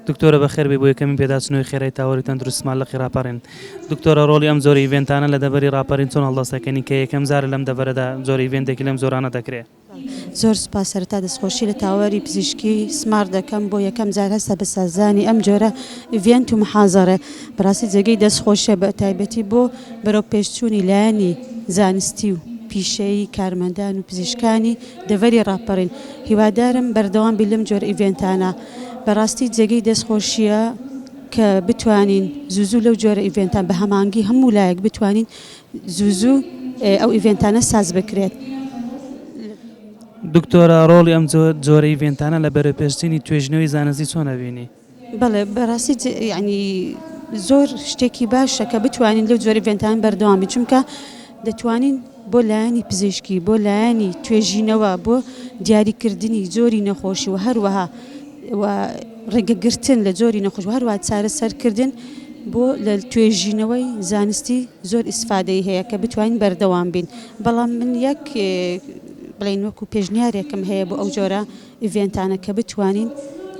دکتۆرە بەخێربێی بۆ یەکەمین پێداچونەوەی خێرای تاوەری تەندروستمان لقی ڕاپەڕین. دکتۆرە ڕۆڵی ئەم جۆرە ئیڤێنتانە لە دەڤەری ڕاپەرین چۆن هەڵدەست دەکەنی کە یەکەم جارە لەم دەڤەرەدا جۆرە ئیڤێنتێکی لەم جۆرانە دەکرێ؟ زۆر سوپاس سەرەتا دەستخۆشی لە تاوەری پزیشکی سمارت دەکەم بۆ یەکەم جار هەستە بە سازدانی ئەم جۆرە ئیڤێنت و محازەڕە بەڕاستی جێگەی دەست خۆشیە بە تایبەتی بۆ بەرەو پێشچونی لایەنی زانستی و پیشەیی کارمەندان و پزیشکانی دەڤەری ڕاپەڕین هیوادارم بەردەوام بی لەم جۆرە ئیڤێنتانە بەڕاستی جێگەی دەست خۆشیە کە بتوانین زوزو لەو جۆرە ئیڤێنتان بە هەمانگی هەموو لایەک بتوانین زوزو ئەو ئیڤێنتانە ساز بکرێت. دکتۆرە ڕۆڵی ئەم جۆرە ئیڤێنتانە لە بەرەوپێشچینی توێژینەوەی زانستی چۆن ئەبینی؟ بەڵێ بەڕاستی جێ یەعنی زۆر شتێکی باشە کە بتوانین لەو جۆرە ڤێنتان بەردەوامی چونکە دەتوانین بۆ لایەنی پزیشکی بۆ لایەنی توێژینەوە بۆ دیاریکردنی جۆری نەخۆشی و هەروەها ڕێگەگرتن لە جۆری نەخۆش و هەروە چارەسەرکردن بۆ لە توێژینەوەی زانستی زۆر ئیسفادەی هەیە کە بتوانین بەردەوام بین بەڵام من یەک بڵین وەکو پێشنیارێکم هەیە بۆ ئەو جۆرە ئیڤێنتانە کە بتوانین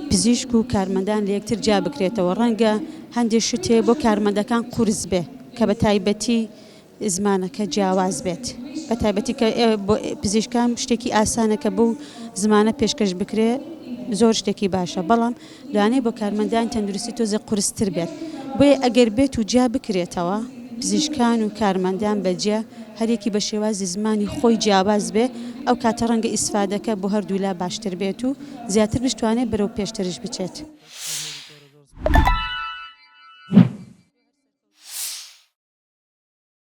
پزیشک و کارمەندان لە یەکتر جیا بکرێتەوە ڕەنگە هەندێ شت هەیە بۆ کارمەندەکان قورس بێ کە بە تایبەتی زمانەکە جیاواز بێت بە تایبەتی کە پزیشکان شتێکی ئاسانە کە بوو زمانە پێشکەش بکرێ زۆر شتێکی باشە بەڵام لەوانەیە بۆ کارمەندانی تەندروستی تۆزێک قورستر بێت، بۆیە ئەگەر بێت و جیا بکرێتەوە، پزیشکان و کارمەندان بە جیا، هەر یەکی بە شێوازی زمانی خۆی جیاواز بێ، ئەو کاتە ڕەنگە ئیسفادەکە بۆ هەردوو لا باشتر بێت و زیاتر بشتوانێت بەرەو پێشتریش بچێت.